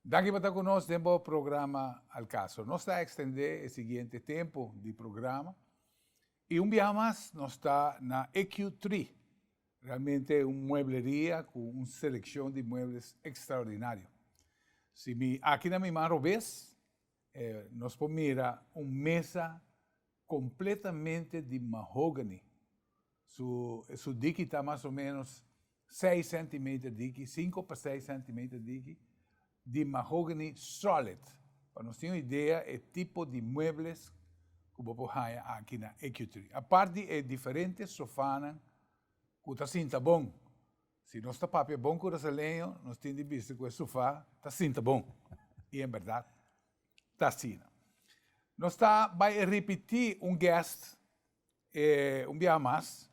Daki pa ta ku nos den bo programa Al Caso. Nos ta ekstendé e siguiente tempu di programa i un biaha mas nos ta na EQ Tree, realmente un muebleria ku un selekshon di muebles ekstraordinario. Si mi aki na mi man robes nos por mira un mesa kompletamente di mahogany. Su diki ta mas o menos seis centimeter diki, cinco pa seis centimeter diki, di mahogany solid. Pa nos tin un idea e tipo di muebles cu bo por haya aki na EcuTree. Apart di e diferente sofanan cu ta sinta bon. Si nos ta papia bon Curaceleño nos tin di bisa cu e sofa ta sinta bon. Y en berdad ta asina. Nos ta bay a ripiti un guest E un biaha mas,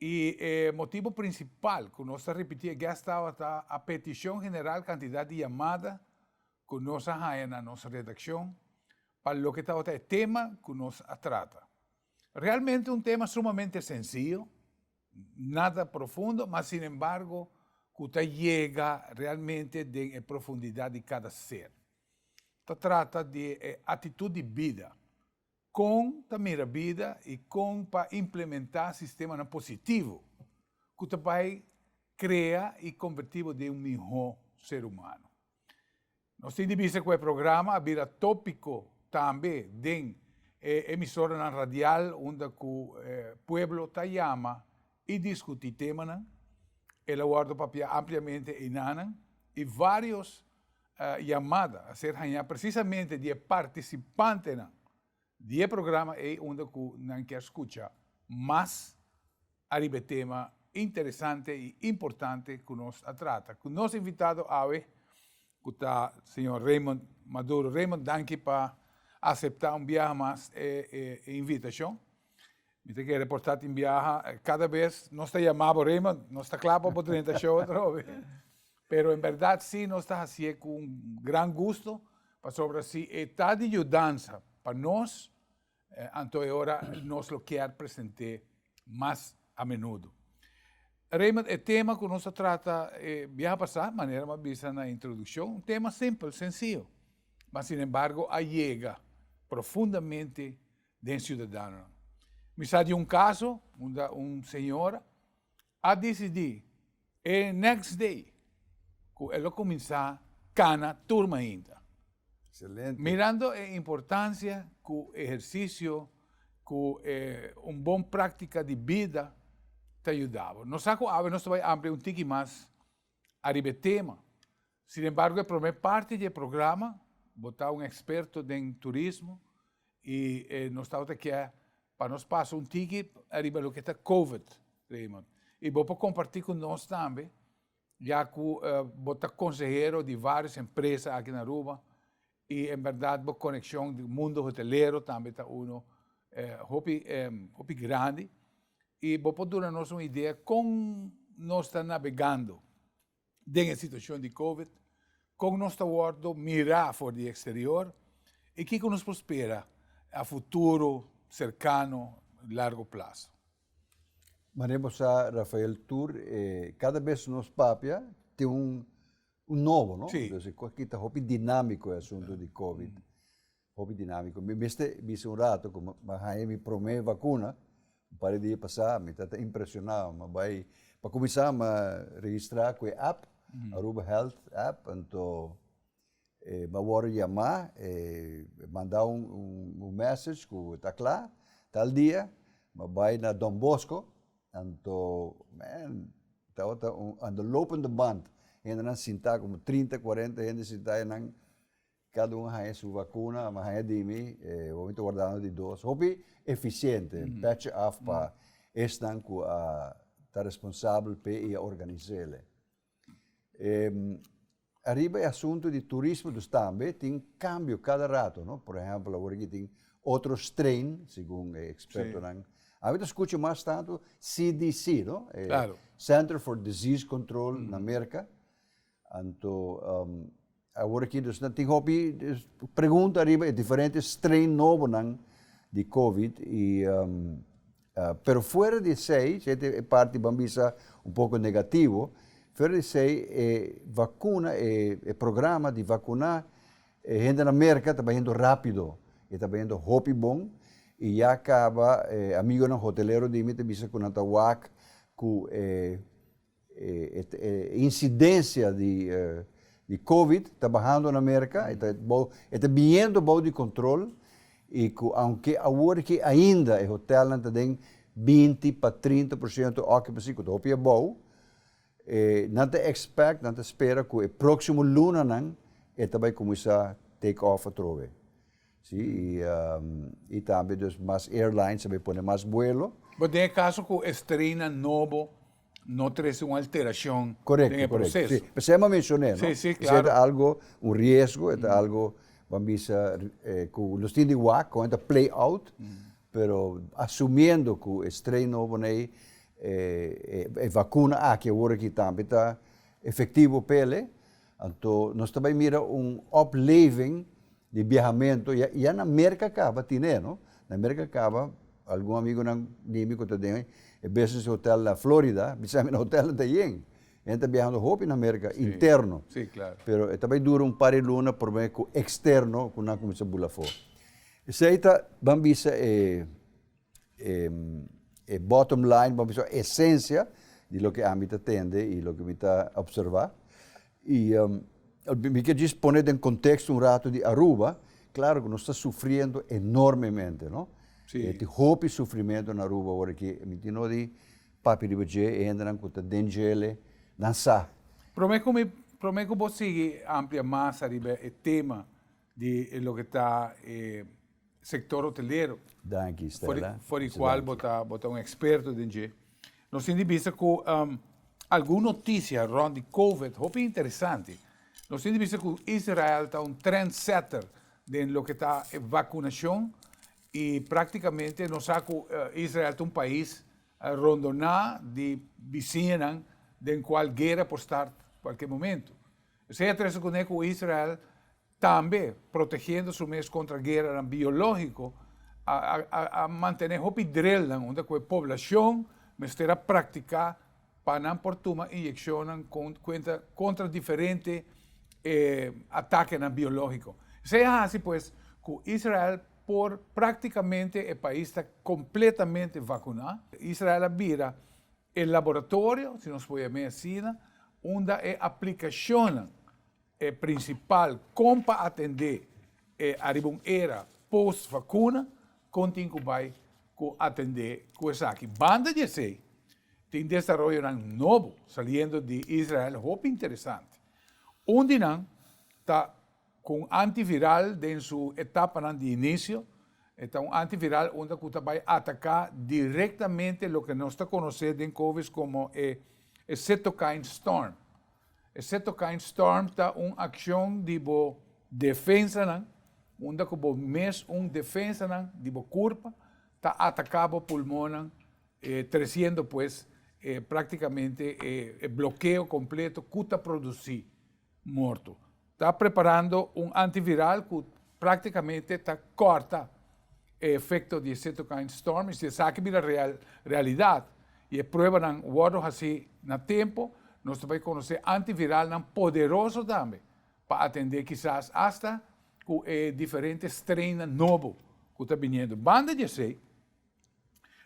i e motibu prinsipal ku nos ta ripití e gèst awa ta a petishon general kantidat di yamada ku nos a haña na nos redakshon pa loke tabata e tema ku nos a trata. Realmente un tema sumamente sensiyo, nada profundo, ma sin embargo ku ta yega realmente den e profundidat di kada ser. Ta trata di e atitut di bida. Kon ta mira bida i kon pa implementá sistemanan positivo ku ta bai krea i kombertí bo den un mihó ser humano. Nos tin di bisa ku e programa a bira tópiko tambe den e emisoranan radial unda ku e pueblo ta yama i diskutí temanan. El a wòrdu papiá ampliamente einanan i vários. yamada a ser hañá presisamente di e partisipantenan di e programa ei unda ku nan kier skucha mas ariba e tema interesante i importante ku nos a trata ku nos invitado awe ku ta señor Raymond Maduro. Raymond, danki pa aseptá un biaha mas e invitashon. Mi ta kere por ta tin biaha kada bes nos ta yama bo Raymond nos ta kla pa bo drenta show atrobe pero en berdad si nos ta hasi'e ku un gran gusto pasobra si e ta di yudansa pa nos anto e ora nos lo kier present'é mas a menudo. Raymond e tema ku nos a trata e biaha pasá manera m'as bisa na introdukshon un tema simpel, sensio mas sin embargo a yega profundamente den siudadanonan. Mi sa di un kaso unda un señora a disidí e next day ku e lo kuminsá kana tur mainta. Excelente. Mirando e importansia ku ehersisio ku e un bon práktika di bida ta yuda bo. Nos sa ku awe nos ta bai amplia un tiki mas ariba e tema. Sin embargo e prome parti di e programa, bo ta un experto den turismo y nos tabata kia pa nos pasa un tiki ariba loke ta covid, Raymond, y bo por comparti cu nos tambe ya cu bo ta consehero di varios empresa aki na Aruba y en berdad bo conexion di mundo hotelero tambe ta uno hopi hopi grandi y bo por duna nos un idea con nos ta navegando. den e situashon di covid, kon nos ta wòrdu mirá for di eksterior i kiko nos por spera a futuro serkano, largu plaso. Manera bo sa Rafael tur e kada bes nos papia tin un nobo no, entonces e kita hopi dinámiko e asuntu di covid. Hopi dinamiko. Mi mester bisa un rato ku mi haña mi promé vakuna. Un par di dia pasá mi ta ta impresioná. Mi bai, pa kuminsá mi registrá ku e app, Aruba Health app, anto mi a wòrdu yamá, e mandá un mèsech ku ta kla, tal dia mi bai na Don Bosco, anto men, tabata un lopende band, hendenan sintá, komo trinta, kuarenta hende sintá, e nan Cada un a haña su vacuna, a mi a haña di mi, e bo mi ta wardando di dos. Hopi eficiente, patch af pa esnan cu a ta responsabel p'e y a organiz'ele. Ariba e asunto di turismo dus tambe tin cambio cada rato, no? Por ehempel awor aki tin otro strain, segun e expertonan. A mi ta scucha mas tanto CDC, no? Claro. E Center for Disease Control na Merca, Anto awor aki nos tin hopi pregunta riba e diferente strain nobonan di covid y pero fuera di esey si enta e parti ban bisa un poco negativo fuera di esey e vacuna e programa di vacuna e hendenan merca ta bahiendo rapido y ta bahiendo hopi bon y ya caba e amigonan hotelero di mi ta bisa cu nan ta wak cu e E incidencia di covid ta bahando na America, e ta biniendo bou di control y cu aunke awor ke ainda e hotelnan ta den binti pa trinta por ciento occupancy, cu ta hopi abou, nan ta expect, nan ta spera cu e proximo lunanan e ta bay cuminsa take off atrobe. Si, y tambe dus mas airlines a bay pone mas buelo. Bo den e caso cu e strainnan nobo. no trese un alterashon den e proseso. P'esei mi a menshoné, no? Esei ta algu, un riesgo, e ta algu bo a bisa ku nos tin di wak kon e ta play out, pero asumiendo ku e strain nobo nei, e vakuna aki awor aki tambe ta efektivo p'e. Anto nos ta bai mira un opleving di biahamentu, ya ya na Merka kaba tine e no, na Merka kaba algun amigunan di mi ku ta den e business hotel na Florida bisa mi na hotel nan ta yen, hen ta biahando hopi na Merka interno, pero e ta bai dura un par di luna prome ku eksterno ku nan kuminsha bula afó. Esei ta ban bisa e. E bottom line pa mi so esencia di loke ami ta tende y loke mi ta observa y mi kier djis pone den contexto un rato di Aruba, claro cu nos ta sufriendo enormemente no, e tin hopi sufrimento na Aruba ora aki, mi tin no di papia riba dje e hendenan cu ta den djele nan sa. Prome cu mi prome cu bo sigui amplia mas ariba e tema. di e loke ta e sektor hotelero. Danki Stella. For di kual bo ta bo ta un eksperto den dje. Nos tin di bista ku algun notisia rònt di Covid hopi interesante. Nos tin di bista ku Israel ta un trend setter den loke ta e vakunashon i praktikamente nos sa ku Israel ta un pais rondoná di bisiñanan den kual guera por start kualke momentu. Esei a trese kuné ku Israel tambe, protegiendo su mes kontra gueranan biológiko, a mantené hopi drelnan unda ku e poblashon mester a praktiká pa nan por tuma inyekshonnan kuenta kontra diferente atakenan biológiko. Esei a hasi pues ku Israel por praktikamente e pais ta kompletamente vakuná. Israel a bira E laboratorio, si nos por yam'é asina, unda e aplikashonnan e prinsipal kon pa atendé e ariba un era pos vakuna kontin ku bai ku atendé ku esaki. Banda di esei, tin desaroyonan nobo saliendo di Israel hopi interesante. Un di nan ta. Cu un antiviral den su etapanan di inicio, e ta un antiviral unda cu ta bay ataca directamente loke nos ta conoce den Covis como e e cytokine storm. E cytokine storm ta un accion di bo defensanan, unda cu bo mes un defensanan di bo curpa ta ataca bo pulmonnan e treciendo pues e practicamente e e blokeo completo cu ta produci morto. Ta preparando un antiviral cu practicamente ta corta e efecto di e cytokine storm y si esaki bira realidad y e pruebanan wordo haci na tempo, nos ta bay conoce antiviralnan poderoso tambe pa atende kisas hasta cu e diferente strainnan nobo cu ta biniendo. Banda di esey.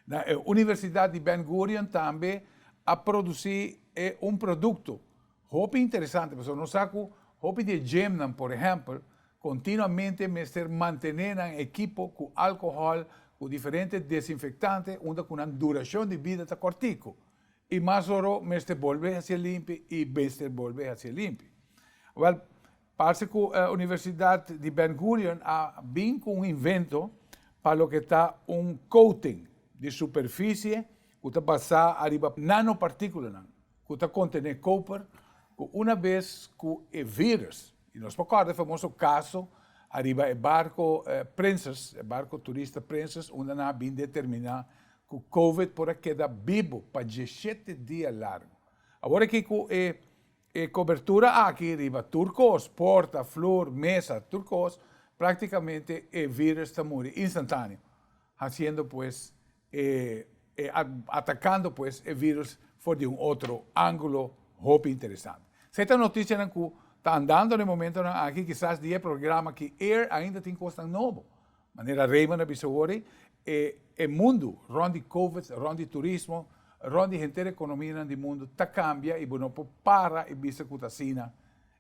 Na e Universidat di Ben Gurion tambe a produci e un producto hopi interesante pasobra nos sa cu hopi di e gymnan, por ehempel, continuamente mester mantene nan ekipo cu alcohol, cu diferente desinfectante unda cu nan duracion di bida ta cortico y mas oro mester bolbe haci'e limpi y mester bolbe haci'e limpi. Wel, Parse cu e Universidad di Ben Gurion a bin cu un invento pa loke ta un coating di superficie cu ta basá ariba nanopartículanan cu ta contené koper cu una bes cu e virus, y nos por corda e famoso caso ariba e barco Princes, e barco turista Princes, unda nan a bin determiná cu covid por a keda bibo pa dieschete dia largo. Awor aki cu e. E cobertura aki riba tur cos, porta, floor, mesa, tur cos, practicamente e virus ta muri instantaneo, haciendo pues e atacando pues e virus for di un otro angulo hopi interesante. Esey ta noticianan cu ta andando na e momentonan aki, kisas di e programa ki air ainda tin cosnan nobo. Manera Raymond a bisa awor ei, e e mundu rond di covid, rond di turismo, rond di henter economianan di mundu ta cambia y bo no por para y bisa cu ta asina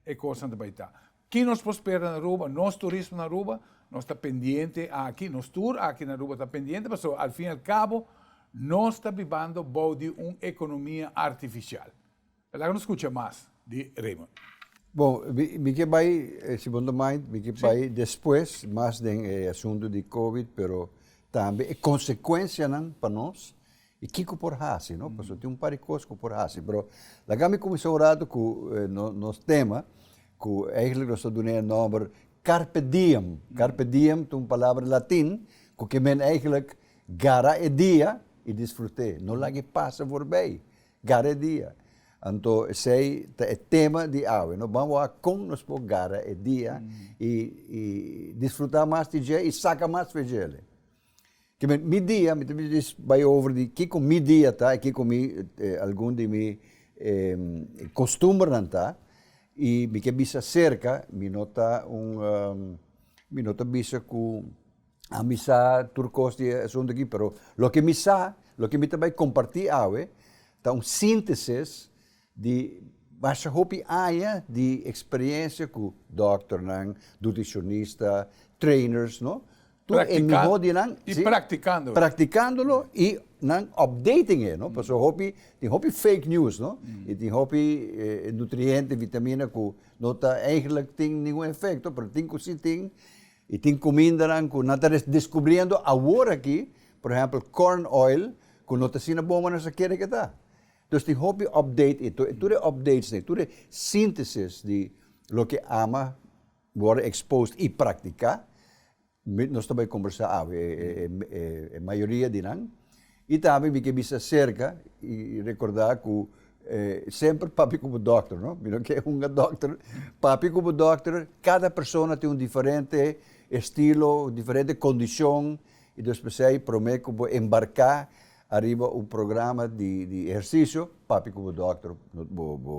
e cosnan ta bay ta. Ki nos por spera na Aruba? Nos turismo na Aruba, nos ta pendiente aki, nos tur aki na Aruba ta pendiente pasobra al fin y al cabo nos ta bibando bou di un economia artificial. Laga nos scucha mas di Raymond. Bon, mi ke bai, si bo no mind, mi ke bai despues mas den e asuntu di covid, pero tambe e konsekuensianan pa nos i kiko por hasi, no? Pasobra tin un par di kos ku por hasi. Pero laga mi kuminsá un ratu ku nos tema, ku eigentlik nos ta dun'é e nòmber Carpe Diem. Carpe Diem ta un palabra latin ku ke mene eigentlik, Gara e dia i disfrut'é, no lag'é pasa forbei. Gara e dia. Anto esei ta e tema di awe. Nos ban wak kon nos por gara e dia i disfruta mas di dje i saka mas veje dje. Kimen mi dia, mi ta bisti bai over di kiko mi dia ta i kiko mi algun di mi kostumbernan ta i mi ke bisa serka, mi no ta un mi no ta bisa ku a mi sa tur kos di e asuntu aki, pero loke mi sa, loke mi ta bai kompartí awe, ta un síntesis di masha hopi aña di eksperiencia ku dòkternan, dutishonistas, trainers, no? Tur e mihó di nan, si, praktikándolo i nan opdating e, no? Pasobra hopi, tin hopi fake news, no? I tin hopi nutriente, vitamina ku no ta, eigelik tin ningun efekto, pero tin ku si tin. I tin kumindanan ku nan ta deskubriendo aworakí, por ehèmpel corn oil, ku no ta asina bon ku nan sa kere ku e ta. Dus tin hopi update i tur e updates dei, tur e síntesis di loke ama wòrdu exposed i praktiká, nos ta bai kombersá awe, e mayoria di nan, I tambe mi ke bisa serka i rekorda ku semper papi komo dòkter no, mi no ke un a dòkter, papi komo dòkter kada persona tin un diferente estilo, diferente kondishon i dus p'esei promé ku bo embarká ariba un programa di di ehersisio papi komo dòkter bo bo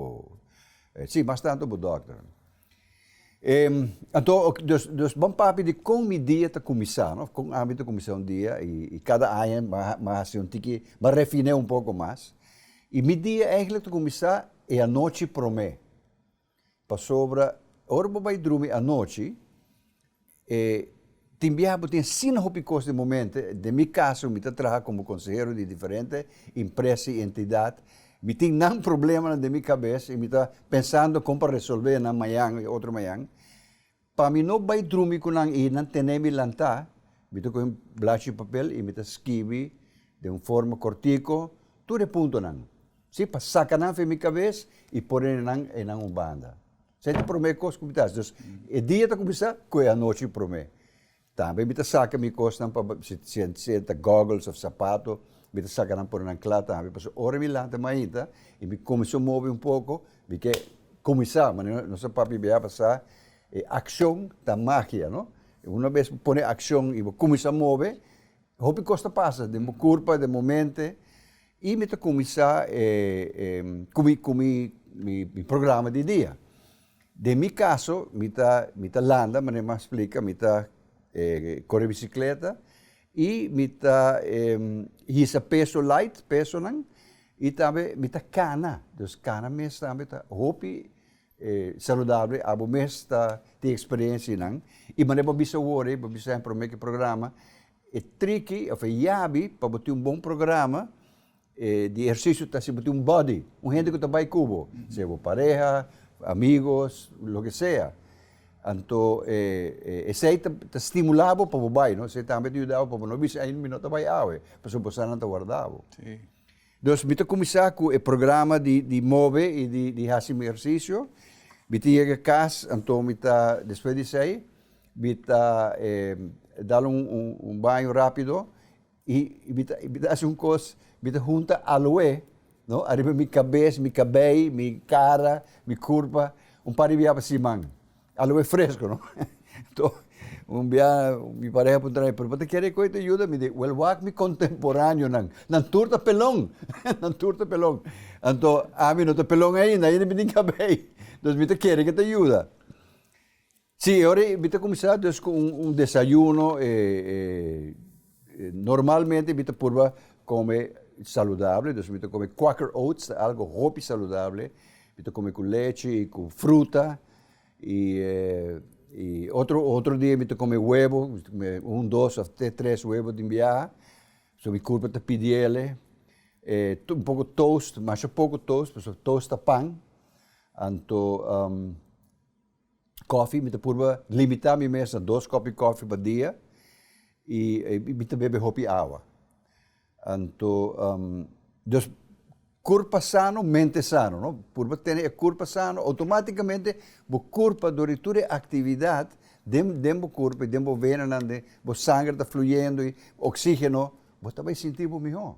si mas tantu bo dòkter. E, anto, ok, dus, dus ban papia di kon mi dia ta kuminsá, no, kon ami ta kuminsá un dia, i, i kada aña mi a, mi a hasi un tiki, mi a refiné un poko mas. I mi dia eigenlik ta kuminsá e anochi promé, pasobra ora bo bai drumi anochi, E tin biaha bo tin asina hopi cos den momento, den mi caso mi ta traha como consehero di diferente impresa y entidad, mi tin nan problemanan den mi cabes y mi ta pensando con pa resolve nan mañan y otro mañan, pa mi no bay drumi cu nan y nan tene mi lanta, mi ta coge un blachi papel y mi ta skibi den un forma cortico tur e puntonan, si, pa saca nan fen mi cabes y pone nan e nan un banda. Esei ta promé kos ku mi ta hasi. Dus e dia ta kuminsá ku e anochi promé. Tambe mi ta saka mi kosnan pa si e ta goggles òf sapato, mi ta saka nan pone nan kla tambe. Pasobra ora mi lanta mainta i mi kuminsó mobi un poko, mi ke kuminsá. Manera nos a papia biaba sa, e akshon ta magia, no? Una bes bo pone akshon i bo kuminsá mobe, hopi kos ta pasa den bo kurpa, den bo mente. I mi ta kuminsá ku mi ku mi mi programa di dia. Den mi kaso mi ta mi ta landa mané mi a splika mi ta kore bisikleta i mi ta hisa peso light pesonan i tambe mi ta kana, dus kana mes tambe ta hopi E saludabel abo mes ta tin experiencia y nan y manera bo bisa awor y bo bisa hen prome ki programa e triki of e yabi pa bo tin un bon programa e di ehercicio ta si bo tin un body un hende cu ta bay cu bo sea bo pareha amigos loke sea anto e esey ta stimula bo pa bo bay no esey tambe ta yuda bo pa bo no bisa ay mi no ta bay awe pasobra bo sa nan ta warda bo. Dus mi ta kuminsá ku e programa di di move i di di hasi mi ehersisio. Mi ta yega kas, anto mi ta despues di esei mi ta dal un un baño rápido i mi ta mi ta hasi un kos, mi ta hunta aloe no ariba mi kabes, mi kabei, mi kara, mi kurpa un par di biabe siman. A lo e fresco no. Enton un bia mi pareha puntra mi, pero bo ta kere koe ta yuda mi? Di wel wak mi kontemporaneonan, nan tur ta pelon, nan tur ta pelon. Anto ami no ta pelon ainda, ainda mi tin kabé ei. Entonces mi ta kere ke ta yuda. Si, e ora ei mi ta kuminsá dus ku un desayuno e. Normalmente mi ta purba come saludable, dus mi ta come quaker oats, ta algo hopi saludable, mi ta come cu lechi y cu fruta, y y otro otro dia mi ta come huevo, un, dos of te tres huevo den biaha, so mi curpa ta pidi el'e, un poco toast, masha poco toast, pasobra toast ta pan, anto Kofi, mi ta purba limita mi mes na dos kopi kofi pa dia i mi ta bebe hopi awa. Anto dus kurpa sano, mente sano, no? Purba tene e kurpa sano, outomatikamente bo kurpa dor di tur e aktividat den den bo kurpa i den bo venanan, bo sangre ta fluyendo i oksigeno, bo ta bai sinti bo mihó.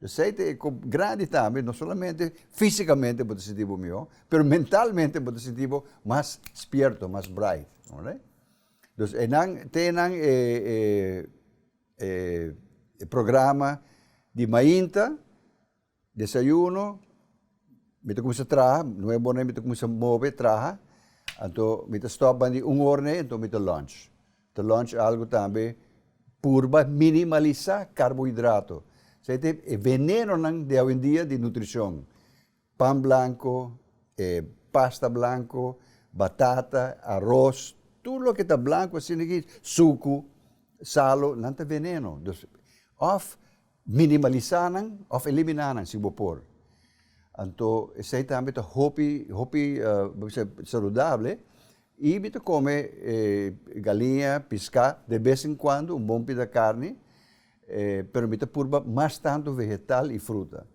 Esei ta e kop grandi tambe, no solamente fisikamente bo ta sinti bo mihó, pero mentalmente bo ta sinti bo mas spierto, mas bright, oké? Dus e nan te nan e e programa di mainta, desayuno. Mi ta kuminsá traha, nuebu orne mi ta kuminsá move traha, anto mi ta stòp bandi un orne anto mi ta lunch, ta lunch algu tambe purba minimalisá karbohidrato, esei ta e venenonan di awendia di nutrishon, pan blanko, e pasta blanko, batata, aros, tur loke ta blanko asina aki, suku, salo, nan ta veneno, dus òf Minimalisá nan òf eliminá nan si bo por. Anto esei tambe ta hopi, hopi bo bisa saludable. I mi ta kome galiña, piská, de bes en kuando un bon pida karni, pero mi ta purba mas tantu vegetal i fruta.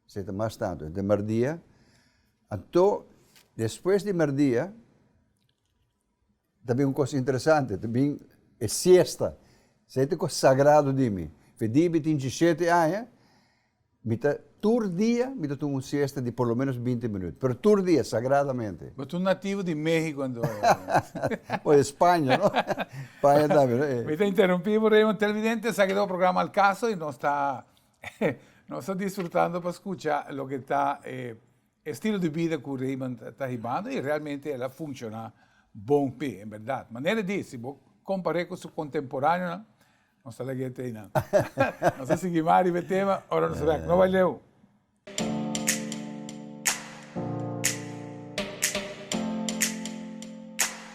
Esei ta mas tantu. Henter merdia, anto despues di merdia. Ta bin un kos interesante, ta bin e siesta, esei ta kos sagrado di mi. Fedí mi tin disieshete aña, mi ta tur dia mi ta tuma un siesta di por lo ménos binti minut, pero tur dia, sagradamente. Bo ta un nativo di México anto. O di Spaña, no? Spaña tambe, no? Mi ta interrumpí bo, Raymond. Televidente, esaki ta bo programa Al Caso i nos ta nos ta disfrutando pa skucha loke ta e E estilo di bida ku Raymond ta hibando i realmente el a funshoná bon p'e, en bèrdat. Manera di, si bo kompar'é ku su kontemporáneonan, nos ta lag'é t'ei nan. Nos a sigui mas riba e tema ora nos rèk. No bai leu!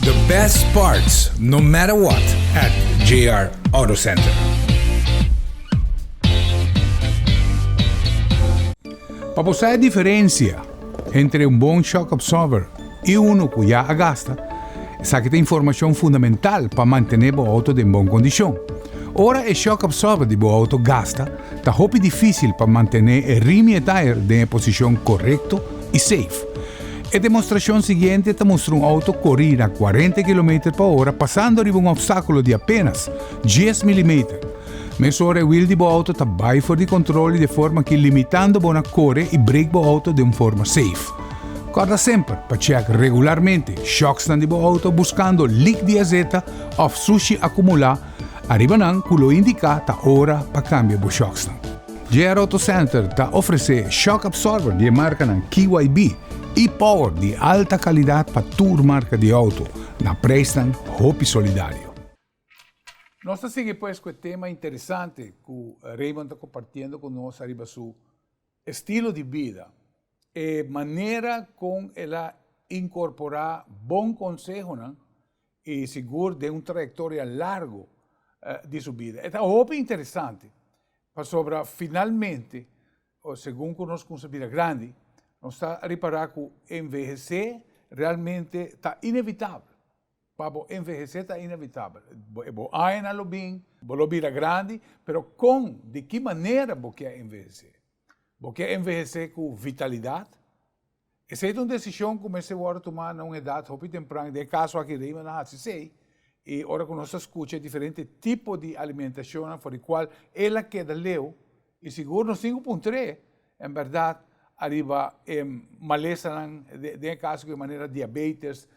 The best parts no matter what at JR Auto Center. Pa bo sa e diferencia entre un bon shock absorber I unu ku ya a gasta, esaki ta informashon fundamental pa mantené bo outo den bon kondishon. Ora e shock absorber di bo outo gasta, ta hopi difísil pa mantené e rim i e tire den e posishon korekto i seif. E demostrashon siguiente ta mustra un outo korí na kuarenta kilometer pa ora pasando riba un opstákulo di apénas dies milimeter, Mesora e wiel di bo auto ta bai for di controle de forma ki limitando bo na core y brake bo auto den un forma safe. Corda semper pa check regularmente shocksnan di bo auto buscando leak di azeta of sushi acumula ariba nan cu lo indica ta ora pa cambia bo shocksnan. JR Auto Center ta ofrece shock absorber di e marcanan KYB y power di alta calidad pa tur marca di auto na prijsnan hopi solidario. Nos ta sigui pues cu e tema interesante cu Raymond ta compartiendo cu nos ariba su estilo di bida, e manera con el a incorpora bon consehonan y sigur den un trayectoria largo di su bida. E ta hopi interesante pasobra finalmente, o segun cu nos cunsha bida grandi, nos ta ripara cu envehece realmente ta inevitabel. Pa bo envehesé ta inevitabel. E bo añanan lo bin, bo lo bira grandi, pero kon, di ki manera bo ke envehesé? Bo ke envehesé ku vitalidat? Esei ta un desishon ku mester wòrdu tumá na un edat hopi tempran. Den e kaso aki Raymond a hasi esei, i ora ku nos ta skucha e diferente tipo di alimentashonnan for di kual el a keda leu, I sigur nos tin ku puntr'é en bèrdat ariba e malesanan, den e kaso ku e manera diabetes,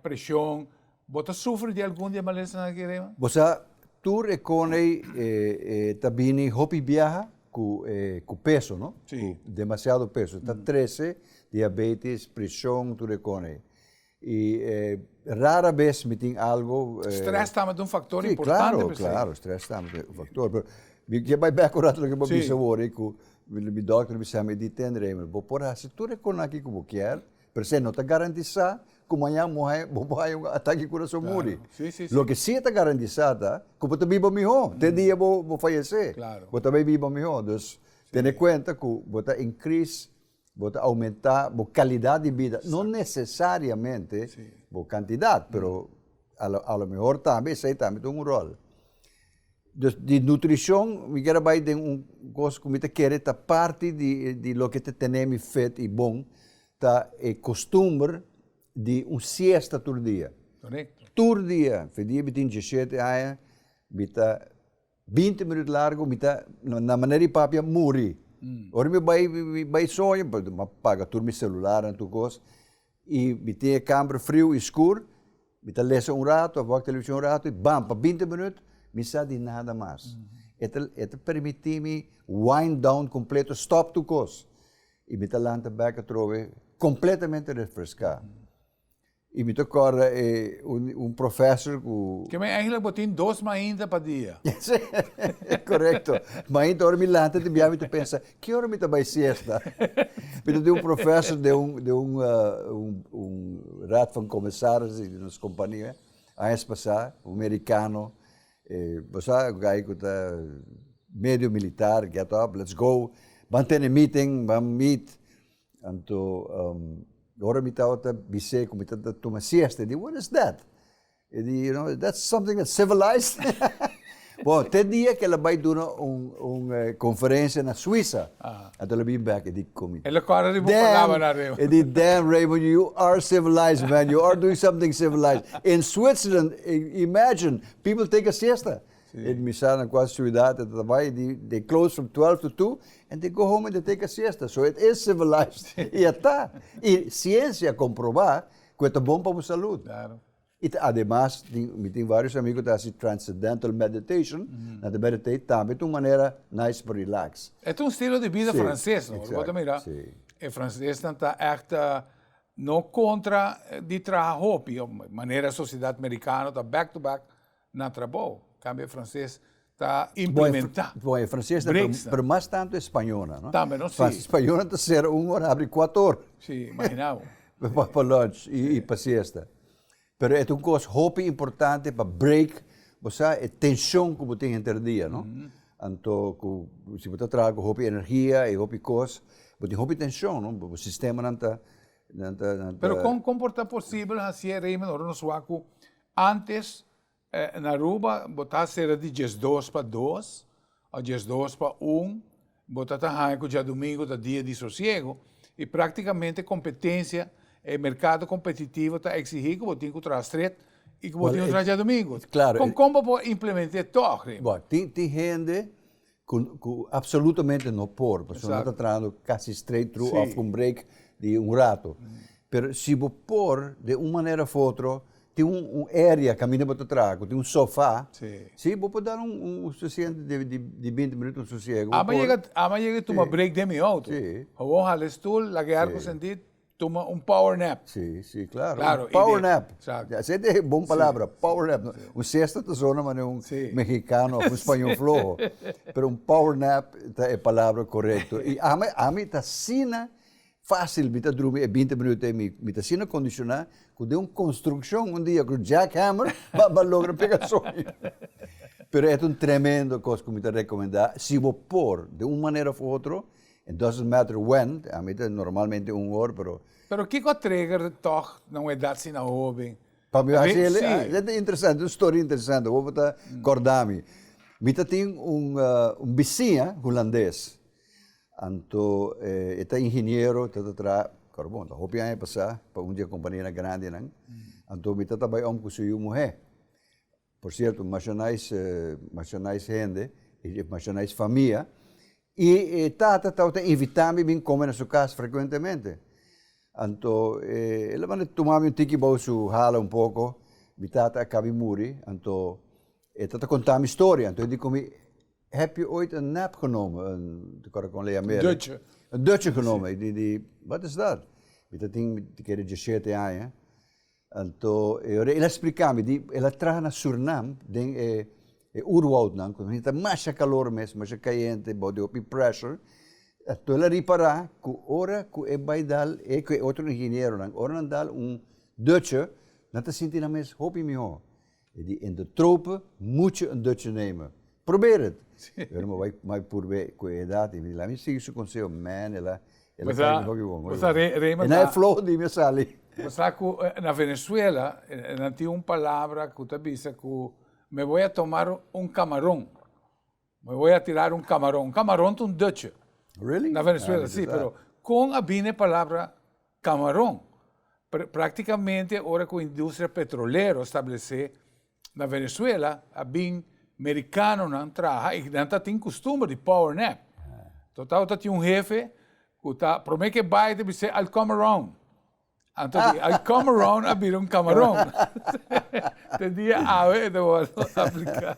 preshon. Bo ta sufri di algun di e malesanan aki rema? Bo sa, tur e konei ta bini hopi biaha ku peso, no? Ku demasiado peso. Ta trese diabetes, preshon, tur e konei. Y rara bes mi tin algo. Stress tambe ta un factor importante. Si, claro, claro, stress tambe ta un factor. Pero mi ke bai bek un rato loke bo bisa wor ei ku mi dòkter a bisa mi, di ten Reymer, bo por hasi tur e konanke ku bo kier, pero esei no ta garantisá ku mañan bo bo por haya un atake di kurason muri. Loke si ta garantisá ta ku bo ta biba mihó te dia bo fayesé, bo ta bai biba mihó. Dus tene kuenta ku bo ta increase. Bo ta aumenta bo kalidat di bida, no nesesariamente bo kantidat, pero alomehor tambe esei tambe ta un ròl. Dus di nutrishon mi kier a bai den un kos ku mi ta kere ta parti di di loke ta tene mi fit i bon, ta e kostumber di un siesta tur dia. Tur dia, fi dia bitin dieshete aña mi ta Binti minut largu mi ta na manera di papia muri. Ora mi bai bai soña, pasobra mi a paga tur mi selular en tur kos, i mi tin e kamber friu i skur, mi ta lesa un ratu of wak televishon un ratu i bam, pa binti minut mi sa di nada mas. E ta e ta permití mi wind down kompleto, stòp tur kos, i mi ta lanta bèk atrobe kompletamente refreská. Y mi ta corda e un professor cu. Ke mi eigenlijk bo tin dos mainta pa dia. Correcto. Mainta ora mi lanta di bia mi ta pensa ki ora mi ta bay siesta. Mi ta tin un professor den un den un un raad van commissaris di nos compania añas pasa, un mericano, e bo sa un guy cu ta medio militar, get up, let's go, ban tene meeting, ban meet. Anto ora mi tabata bis'é ku mi ta tuma siesta i di, what is that? E di, you know, that's something that's civilized. Bon, te dia ke el a bai duna un konferensia na Suisa, anto el a bin bek, e di ku mi. El a kore riba un palabra na Raymond. E di, damn Raymond, you are civilized man, you are doing something civilized. In Switzerland, imagine, people take a siesta. E misa na cua ciudad e ta trabai di de close from twelve to two and they go home and they take a siesta so e ta e civilized y a ta y ciencia a comproba cu e ta bon pa bo salud y ta ademas tin mi tin varios amigo cu ta haci transcendental meditation nan ta meditate tambe ta un manera nice pa relax. E ta un estilo di bida frances no ora bo ta mira e francesnan ta echt no contra di traha hopi manera sociedad mericano ta back to back Na trabou, tambe e franses ta implementá brekstenan. Bo, e franses ta promo, pero mas tantu e spañonan, no? Tambe no, si. Pasobra spañonan ta sera un ora, habri kuat ora. Si, imaginá bo. Pa lunch i pa siesta. Pero e ta un kos hopi importante pa break, bo sa, e tenshon ku bo tin henter di dia, no? Anto ku si bo ta traha ku hopi energia i hopi kos, bo tin hopi tenshon, no? Bo sistemanan ta, nan ta, nan ta. Pero kon, kon por ta posibel hasié, Raymond, ora nos wak ku. Antes na Aruba bo ta sera di diesdos pa dos o diesdos pa un, bo ta ta haña cu diadomingo ta dia di sosiego y practicamente competencia, e mercado competitivo ta exigi cu bo tin cu traha stret y cu bo tin cu traha diadomingo. Con con bo por implemente toch, Raymond? Tin tin hende. Cu cu absolutamente no por pasobra Exacto. no ta trahando casi straight through Sí. of con break di un rato. Pero si bo por de un manera of otro tin un un area caminda bo ta traha cu tin un sofa Sí. si bo por dar un un un suficiente di di di binti minuto un sosiego bo Ama por. yega t- ama yega y tuma Sí. break den mi auto. Sí. Awor hala e stoel, laga e arco Sí. sentid, Tuma un power nap. Sí, sí, claro. Claro, un power nap. Exacto. Así es de bon palabra, sí, power nap. Sí. Un siesta ta zona mane un sí. mexicano of un español flojo. Pero un power nap ta e palabra correcto. Y ami, ami ta asina fácil mi ta drumi e binti minuto ei. Mi, mi ta asina condicioná cu den un construccion un dia cu jackhammer ba, ba logra pega soy. Pero e ta un tremendo cos cu mi ta recomendá. Si bo por, den un manera of otro, It doesn't matter when, a mi ta normalmente un or pero. Pero kiko a trigger de tog na un edad asina hoben? Pa mi hasi el e e ta interesante, un story interesante, hopi ta corda mi. Mi ta tin un un bisiña hulandes, anto e ta ingeniero, ta ta traha, pero bon ta hopi aña pasa, pa un di e companianan grandinan, anto mi ta ta bay om cu su yu muhe. Por cierto Mashonais Mashonais hende y Mashonais famia y e tata tawata invita mi bin come na su cas frecuentemente anto e el a manda tuma mi un tiki bou su hala un poco mi tata a cabi muri anto e tata conta mi storia anto e di cu mi heb je ooit een nap genomen een ta kor kon lei amer Dutje een dutje genomen e di di wat is dat mi ta tin mi ta kere dieschete aña. Anto e ora el a spliká mi di el a traha na Surnam den e e urwoudnan ku ta masha kalor mes, masha kayente, bou di hopi pressure, anto el a ripará ku ora ku e bai dal, e ku e otro ingenieronan, ora nan dal un dutsje nan ta sinti nan mes hopi mihó. E di in de trope mucho in Dutch name. Probeer het! Pero mi bai mai purbe cu e edat, i mi di laat mi sigui su conseho, man, ela, ela kari mi hopi bon, hopi bon. E na e floho di mi a sali. Bo sa cu na Venezuela nan tin un palabra cu ta bisa cu me voy a tomar un camaron. Mi hoy a tirar un camaron. Un camaron ta un dutje. Really? Na Venezuela, si. Pero con a bini e palabra camaron? Practicamente ora cu industria petrolero establece na Venezuela a bin mericanonan traha y nan ta tin costumber di power nap. Entonces tawata tin un hefe cu ta, prome ke bay ta bis'e, I'll come around. I come around a bira un kamaron. Te dia awe e ta wòrdu apliká.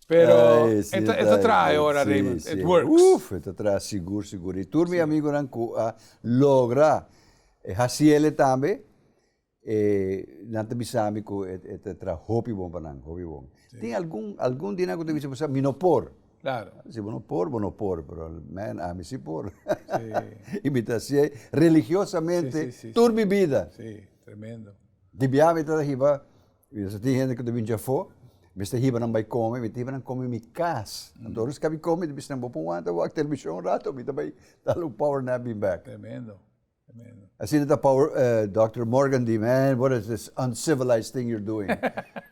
Pero e ta traha e ora, Raymond. It works. Uf, e ta traha sigur, sigur. I tur mi amigunan ku a logra hasi el'e tambe. E nan ta bisa mi ku e ta tra hopi bon pa nan, hopi bon. Tin algun, algun di nan ku ta bisa pasobra mi no por. Klaro. Si bo no por, bo no por, pero men, ami si por. I mi ta hasié religiosamente tur mi bida. Si, tremendo. Di biaha mi ta hiba, bios tin hende ku ta binchi afó, mester hiba nan bai kome, mi ta hiba nan kome mi kas. Anto ora skabi kome, mi ta bisa nan bo por wanta wak televishon un rato, mi ta bai dal un power nap bin bèk. Tremendo. Asina ta power Doctor Morgan di, Man what is this uncivilized thing you're doing.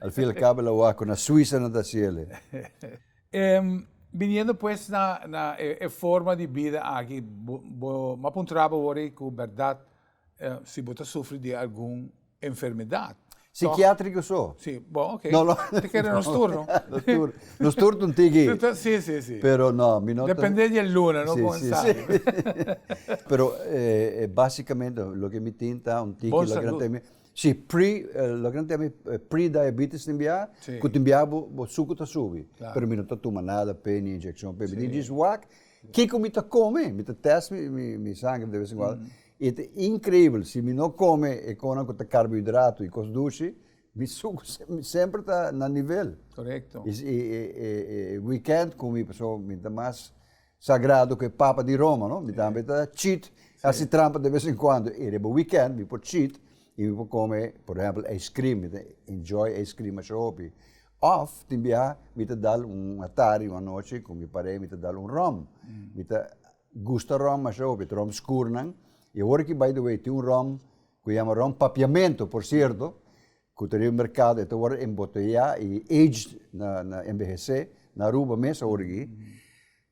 Al fin al cabo el a wak cu na Suiza nan ta haci el e. Biniendo pues na na e forma di bida aki bo map un traba worry cu berdad si bo ta sufri di algun enfermedad. Psikiatriko so. Si, bo ok. No lo. Te kere nos tur no. Nos tur. Nos tur ta un tiki. Si, si, si. Pero no, mi no ta. Depende di e luna no con sa. Si, si, si. Pero e basicamente loke mi tin ta un tiki. Bon salud. Si, pre, loke nan ta mi pre-diabetes ta bia. Si. Ku ta bia bo bo suku ta subi. Claro. Pero mi no ta tuma nada pe ni inyekshon pe. Si. Mi ta djis wak kiko mi ta kome, mi ta test mi mi mi sangre de ves en cuando. I ta increibel, si mi no come e conan cu ta carbohidrato y cos dushi, mi sucu semper ta na nivel. Correcto. Y si e weekend cu mi paso mi ta mas sagrado cu e papa di Roma, no? Mi tambe ta cheat, haci trampa de vez en cuando, y riba weekend mi por cheat y mi por come, por ehempel, ice cream, mi ta enjoy ice cream masha hopi. Of tin biaha mi ta dal un atard y un anochi cu mi pare mi ta dal un rum, mi ta. Gusta rom masha hopi, ta rom skurnan. E awor aki by the way tin un rom ku yama rom papiamento por sierto ku ta riba merkado e ta wòrdu emboteyá i aged na na enbehesé na Aruba mes awor aki.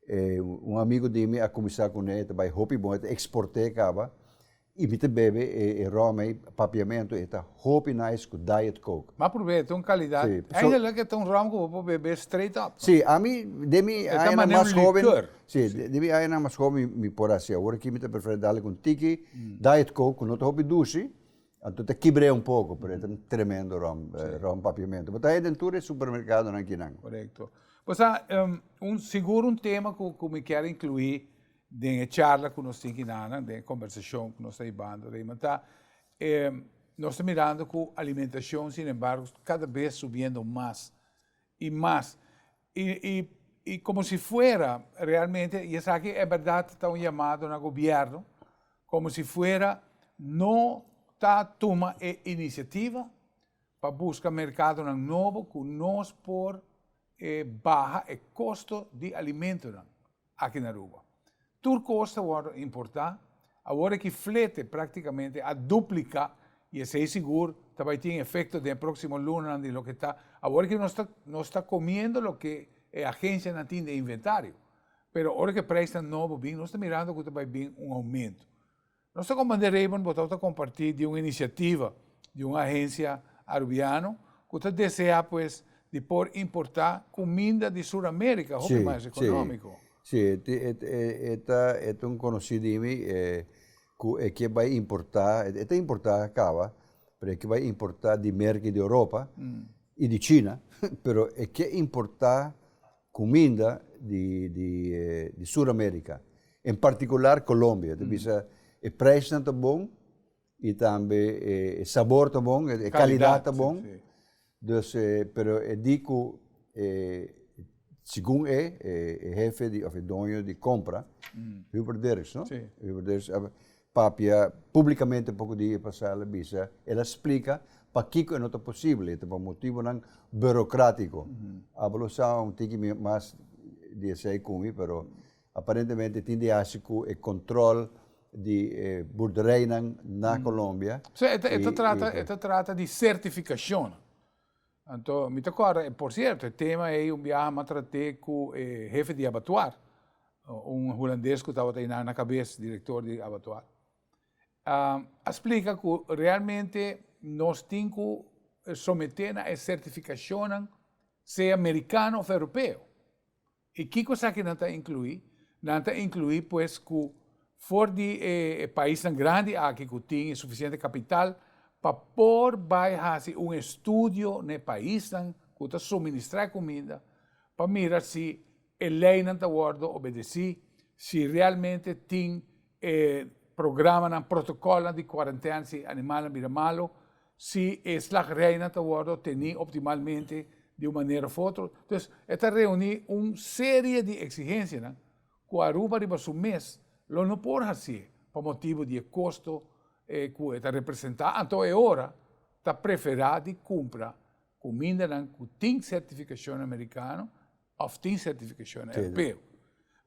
E un amigu di mi a kuminsá kuné e ta bai hopi bon e ta eksport'é kaba. Y mi ta bebe e rom ey, papiamento e ta hopi nice cu diet coke. M'a prob'é, e ta un calidad. Sí, so. Eindelijk e ta un rom cu bo por bebe straight up. Sí, ami den mi E ta añanan manera mas un hoben, likeur. sí, Sí. den mi añanan mas hoben mi, mi por haci. Awor aki mi ta prefere dal like un tiki diet coke cu no ta hopi duci, anto ta kibr'é un poco, pero e ta un tremendo rom, rom papiamento. Bo ta haya den tur e supermercadonan akinan. Correcto. Bo sa, un, sigur un tema cu, cu mi kier inclui, Den e charla cu nos tin ki nannan, den e conversacion cu nos ta hibando Raymond ta, nos ta mirando cu alimentacion sin embargo cada bes subiendo mas y mas y como si fuera realmente y esaki e berdad ta un yamado na gobierno como si fuera no ta tuma e iniciativa pa busca mercadonan nobo cu nos por baha e costo di alimentonan. aki na Aruba. Tur kos ta wòrdu importá awor ki flete práktikamente a dupliká i esei sigur ta bai tin efekto den e próksimo lunanan di loke ta awor ki nos ta nos ta komiendo loke e agensianan tin den inventario. Pero ora ku e preisnan nobo bin nos ta mirando ku ta bai bin un oumentu. Nos ta Comandé Raymond Botau ta comparti di un iniciativa di un agencia Arubiano cu ta desea pues di por importa cuminda di Sur America hopi mas economico. Si, e ta un conoci di mi cu e ke bay importa, e ta importa caba, pero e ke bay importa di merki di Europa y di China, pero e ke importa Cuminda di di Sur America, en particular Colombia, ta bisa e prijsnan ta bon y tambe e e sabor ta bon, e calidad ta bon, dus e pero e di cu e segun e e hefe di of e doño di compra, Hubert Dirks no? Hubert Dirks. papia públikamente un poko di e pasá, el a bisa, el a splika pakiko e no ta posibel, e ta pa motibunan burokratico. Abalo sa un tiki mi mas di esei ku mi, pero aparentemente tin di hasi ku e kòntròl di e burdereinan na Colombia. Sò e ta trata di sertifikashonnan. Anto, mi ta corda, e, por cierto, e tema ey un biaha m'a trate cu e hefe di abatuar, un Hulandes cu tabata ey nan na cabes, director di abatuar. A splica cu realmente nos tin cu somete na e certificacionnan, sea Mericano of Europeo. I kiko sa ki nan ta inkluí? Nan ta inkluí pues ku for di e paisnan grandi aki ku tin e sufisiente kapital pa por bai hasi un estudio na e paisnan ku ta suministrá e kuminda pa mira si e leinan ta wòrdu obedesí, si realmente tin e programanan, protokòlnan di kuarentèna si animalnan bira malu. Si e slagrijnan ta wordo teni optimalmente di un manera of otro, entonces e ta reuni un serie di exigencianan cu Aruba riba su mes lo no por hacié pa motibu di e costo cu e ta representa, anto e ora ta prefera di cumpra cu mindanan cu tin certificacion Americano of tin certificacion Europeo.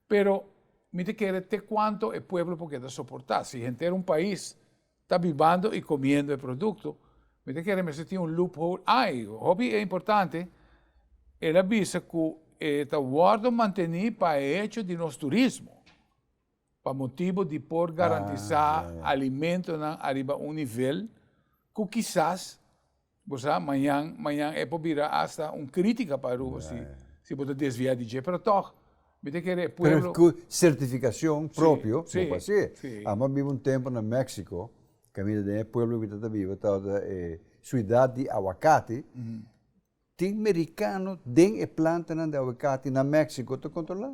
Pero mi ta kere te cuanto e pueblo por keda soporta si henter un pais ta bibando y comiendo e producto, mi ta kere mester tin un loophole ai. Hopi e importante, el a bisa cu e ta wordo manteni pa e hecho di nos turismo, pa motibo di por garantisa alimentonan ariba un nivel cu kisas Bo sa, mañan, mañan e por bira asta un crítica pa Aruba si, si bo ta desvia di dje. Pero tog, mi ta kere e pueblo. Pero cu certificacion propio bo por haci. Amo a biba un tempo na Mexico, caminda den e pueblo cu mi tata biba, tabata e Ciudad di Aguacate. Tin mericano den e plantanan di aguacate na Mexico ta controla.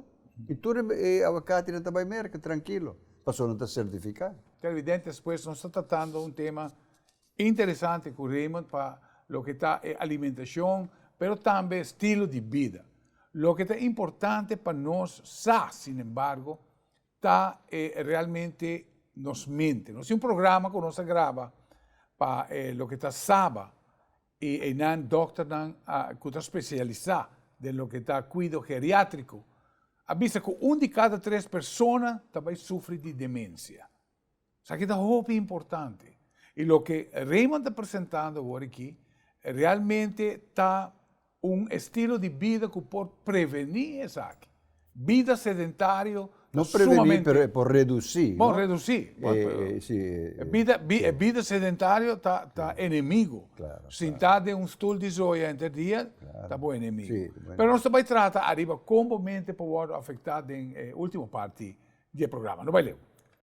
Y tur e aguacatenan ta bay merca, trankilo, pasobra nan ta certifica. Televidentes, pues nos ta tratando un tema Interesante cu Raymond pa loke ta e alimentacion pero tambe e stilo di bida. Loke ta importante pa nos sa, sin embargo, ta e realmente nos mente. Nos tin un programa cu nos a graba pa e loke ta saba y einan dokternan cu ta specialisa den loke ta cuido geriatrico a bisa cu un di cada tres persona ta bay sufri di demencia. Esaki ta hopi importante y loke Raymond ta presentando awor aki realmente ta un estilo di bida cu por preveni esaki. Bida sedentario ta sumamente. No preveni pero e por reduci. Bon reduci. E bida sedentario ta enemigo. Sinta den un stoel di zooi henter dia ta bo enemigo. Pero nos ta bay trata ariba con bo mente por wordo afecta den e ultimo parti di e programa. No bay leu.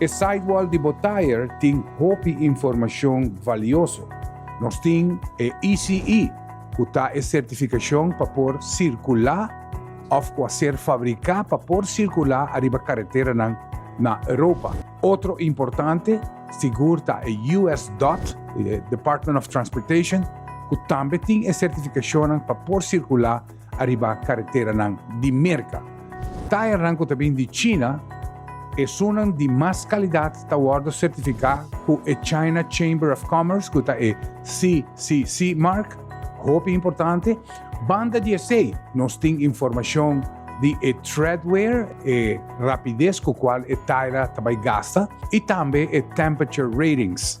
E sidewall di bo tayer tin hopi informashon valioso. Nos tin e ECE, ku ta e sertifikashon pa por sirkulá òf ku a ser fabriká pa por sirkulá ariba kareteranan na Europa. Otro importante sigur ta e US. Dot, Department of Transportation, ku tambe tin e sertifikashonnan pa por sirkulá Ariba kareteranan di Merka. Tayernan ku ta bin di China, esunnan di mas kalidat ta wòrdu sertifiká ku e China Chamber of Commerce, ku ta e CCC mark, hopi importante. Banda di esei, nos tin informashon di e treadwear, e rapides ku kual e tayera ta bai gasta, i tambe e temperature ratings.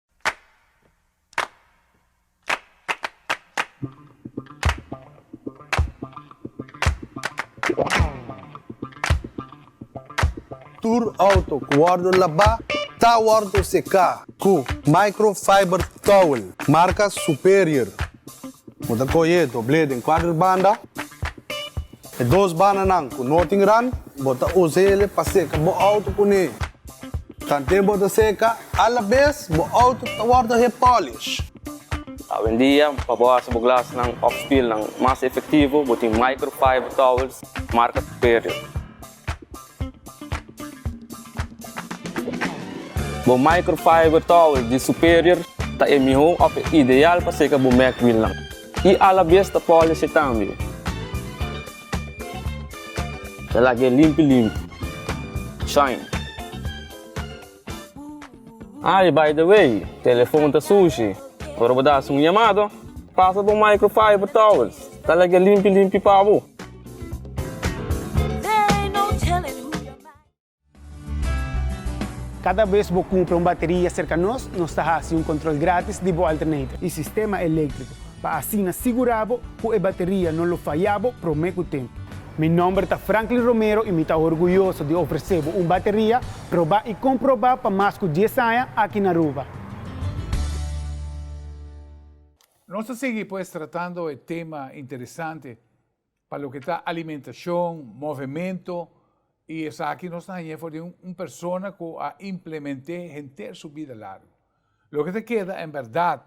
Tur auto ku wòrdu labá ta wòrdu seká ku microfiber towel marka Superior. Bo ta kohe doblé den kuadro di banda. E dos bananan ku no tin ran, bo ta usa ele pa seka bo outo kuné. Kante bo ta seka alabes, bo outo ta wòrdu hep pòlish. Awendia, pa bo hasi bo glasnan òf spilnan mas efektivo, bo tin microfiber towels marka Superior. Bo microfiber towel di Superior ta e mihó òf e ideal pa seka bo mek wilnan i alabes ta pòleshe tambe. Ta laga e limpi limpi, shine! Ay, by the way, telefon ta sushi. Ora bo ta hasi un yamado, pasa bo microfiber towels, ta leke limpi limpi pa bo. Kada bes bo kumpra un bateria serka nos, nos ta hasi un kontrol gratis di bo alternator i sistema eléktriko. pa asina sigurá bo ku e bateria no lo fayá bo promé ku tempu. Mi nòmber ta Franklin Romero i mi ta orguyoso di ofresé bo un bateria probá i komprobá pa mas ku dies aña aki na Aruba. Nos ta sigui pues tratando e tema interesante. Pa loke ta alimentacion, movemento y esaki nos ta hañ'é for di un persona cu a implement'é henter su bida largo. Loke ta keda en berdad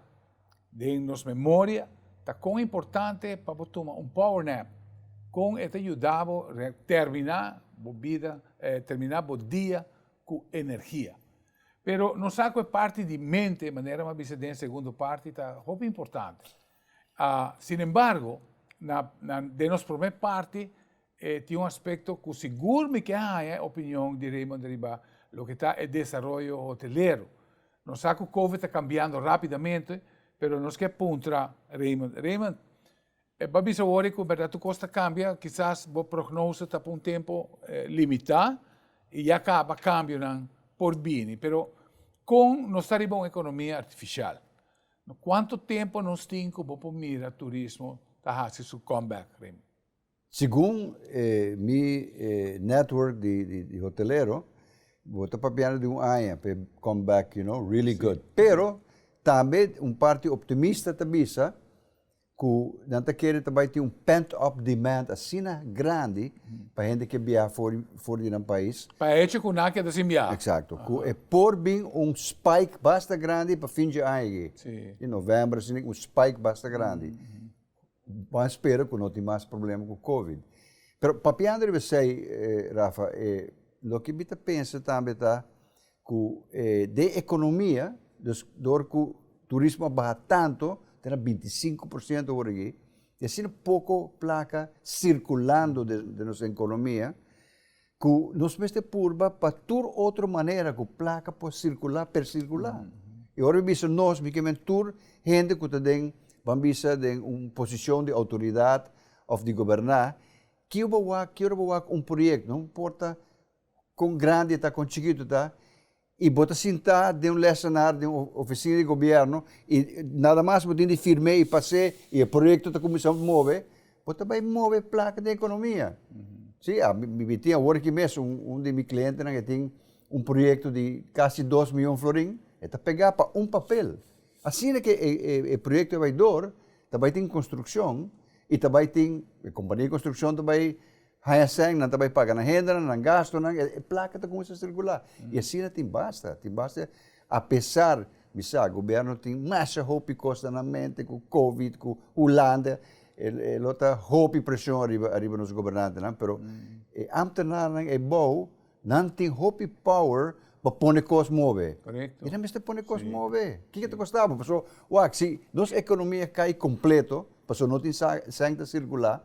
den nos memoria ta con importante pa bo tuma un power nap, con e ta yuda bo termina bo bida, termina bo dia cu energia. Pero nos sa cu e parti di mente, manera bo a bisa den e segundo parti, ta hopi importante. Sin embargo, na, na, den nos prome parti, e tin un aspecto cu sigur mi ke haña e opinion di Raymond riba loke ta e desaroyo hotelero. Nos sa cu Covid ta cambiando rapidamente, pero nos ke puntra Raymond, Raymond, e ba bisa wor cu berdad tur cos ta cambia, kisas bo prognose ta pa un tempo limita y ya caba, cambionan por bini, pero con nos ta riba un economia artificial, Na cuanto tempo nos tin cu bo por mira turismo ta haci su comeback rimi? Segun e mi e network di di hotelero bo ta papiando di un aña pa e come back you know really good pero tambe un parti optimista ta bisa ku nan ta kere ta bai tin un pent-up demand asina grandi pa hende ke biaha for for di nan pais, Pa e hecho ku nan a keda sin biaha. Eksakto, ku e por bin un spike basta grandi pa fin dje aña aki, Si. di novèmber asina un spike basta grandi. Wan spera ku no tin mas problema ku covid. Pero papiando riba esei, Rafa, loke mi ta pensa tambe ta, Ku den ekonomia, dus dor ku turismo a baha tantu, ta na binti i sinku por siento word aki, i asina poko plaka sirkulando den nos ekonomia, ku nos mester purba pa tur otro manera ku plaka por sirkula, per sirkula. I ora mi bisa nos, mi ke men tur hende ku ta den, ban bisa den un posishon di outoridat òf di goberná, kiu bo wak, kiora bo wak un proyekto, no importa Kon grandi ta, kon chikitu ta, i bo ta sintá den un lèsenar den un ofisina di gobièrnu i nada mas bo tin di firm'é i pas'é i e proyekto ta kuminsá move, bo ta bai move plaka den ekonomia. Sí, mi tin awor aki mes un di mi klientenan e tin un proyekto di kasi dos mion florin, e ta pegá pa un papel. Asina ke e proyekto bai dor, ta bai tin konstrukshon i ta bai tin, e kompania di konstrukshon ta bai Hyacinth, nan ta bai paga nan hendenan, nan gastunan, e plaka ta kuminsa sirkulá. I asina tin basta, tin basta. Apesar mi sa gobierno tin masha hopi kos na nan mente ku covid, ku Hulanda, e e lo ta hopi preshon ariba ariba nos gobernantenan, pero e ámtenarnan e bou nan tin hopi power pa pone kos move. I nan mester pone kos move. Kiko ta kosta bo? Paso, wak, si nos ekonomia kai kompleto, paso no tin sa sèn ta sirkulá.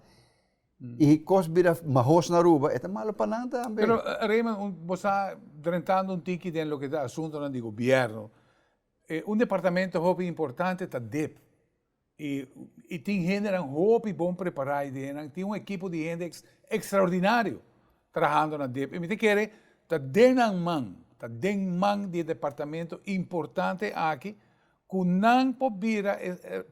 y cos bira mahos na Aruba e ta malo pa nan tambe. Pero Raymond un bo sa drentando un tiki den loke ta asuntonan di gobierno e un departamento hopi importante ta dip y y tin hendenan hopi bon prepara ahi den nan tin un ekipo di hende extraordinario trahando na dip y mi ta kere ta den nan man ta den man di e departamento importante aki ku nan por bira